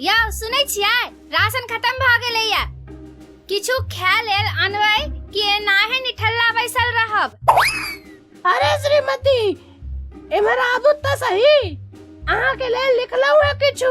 यौ सुनै छियै राशन खत्म भऽ गेलैया किछु खाय लेल अनबै कि एनाहे निठल्ला बैसल रहब अरे श्रीमती इम्हर आबू तऽ सही अहाँ के लेल लिखलहुँ है किछु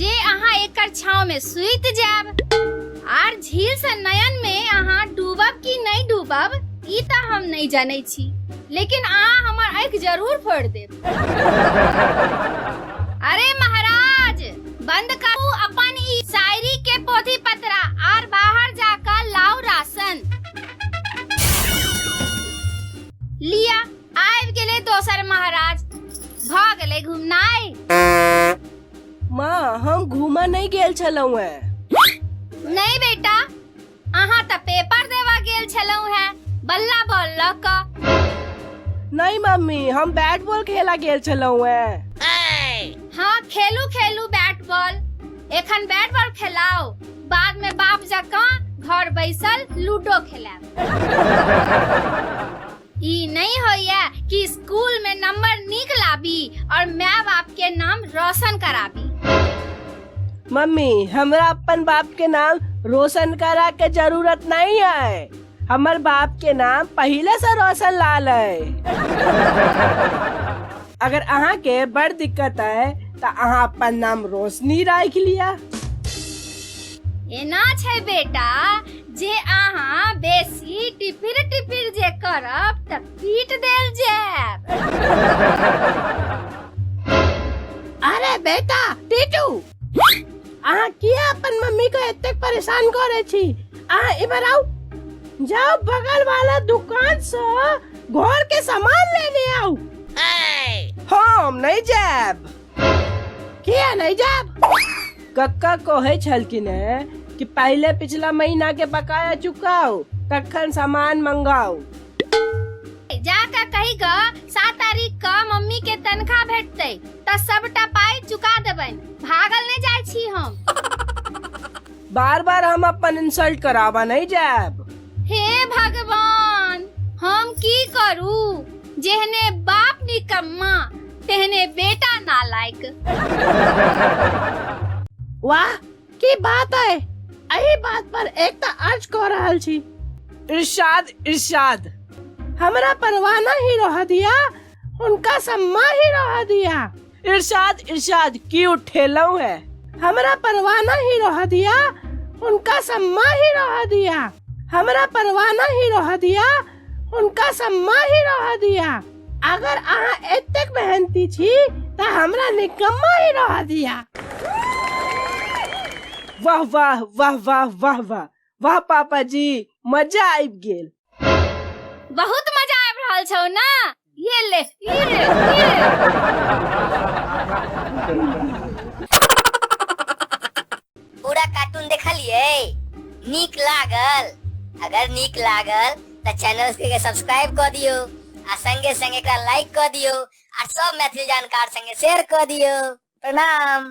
जे अहाँ एकर छाव में सुत जाब आर झील से नयन में अहाँ डूबब कि नहीं डूबब ई त हम नहीं जाने छी लेकिन अहाँ हमर आँख जरूर फोड़ देब अरे महाराज बंद करू अपन ई शायरी के पोथी पत्रा आर बाहर जाकर लाओ राशन लिया आबि गेले दोसर महाराज भ गेले घुमनाई माँ हम घूमा नहीं गेल छलहुँ है नहीं बेटा अहाँ तऽ पेपर देवा गेल छलहुँ हैं बल्ला बॉल लऽ कऽ नहीं मम्मी हम बैट बॉल खेला गेल छलहुँ है हाँ खेलू खेलू बैट बॉल एखन बैट बॉल खेलाओ बाद में बाप जकाँ घर बैसल लूडो खेलाएब ई नहीं होइए कि स्कूल में नंबर नीक लाबी और माय बाप के नाम रोशन कराबी मम्मी हमरा अपन बाप के नाम रोशन करा के जरूरत नहीं है हमर बाप के नाम पहले से रोशन लाल है अगर अहाँ के बड़ दिक्कत है तो अहाँ अपन नाम रोशनी राख लिया एना छै बेटा जे अहाँ बेसी टिपिर टिपिर जे करब तऽ पीट देल जायब अरे बेटा टीटू अहाँ किया अपन मम्मी को एतेक परेशान करे छी अहाँ इम्हर आउ जाओ बगल वाला दुकान से घर के सामान लेने आउ हम नहीं जायब किया नहीं जाब कक्का कहे छलकिन है कि पहले पिछला महीना के बकाया चुकाओ तखन सामान मंगाओ जा का कही ग सात तारीख क मम्मी के तनखा भेटते त सबटा पाई चुका देबन भागल नहीं जाय छी हम बार बार हम अपन इंसल्ट करावा नहीं जाब हे भगवान हम की करू जेहने बाप निकम्मा तेहने बेटा ना लायक वाह की बात है एही बात पर एकता अर्ज कह रहल छी इरशाद इरशाद हमरा परवाना ही रह दिया उनका सम्मा ही रह दिया इरशाद इरशाद की उठेलऊ है हमरा परवाना ही रह दिया उनका सम्मा ही रह दिया हमरा परवाना ही रह दिया उनका सब माही रह दिया अगर अहाँ एतेक मेहनती छी तऽ हमरा निकम्मा ही रह दिया वाह वाह वाह वाह वाह वाह वाह पापा जी मजा आबि गेल बहुत मजा आबि रहल छौ ना Yele, yele, पूरा कार्टून देखलिए नीक लागल अगर नीक लागल तो चैनल के सब्सक्राइब कर दियो आ संगे संगे एकरा लाइक कर दियो आ सब मैथिली जानकार संगे शेयर कर दियो प्रणाम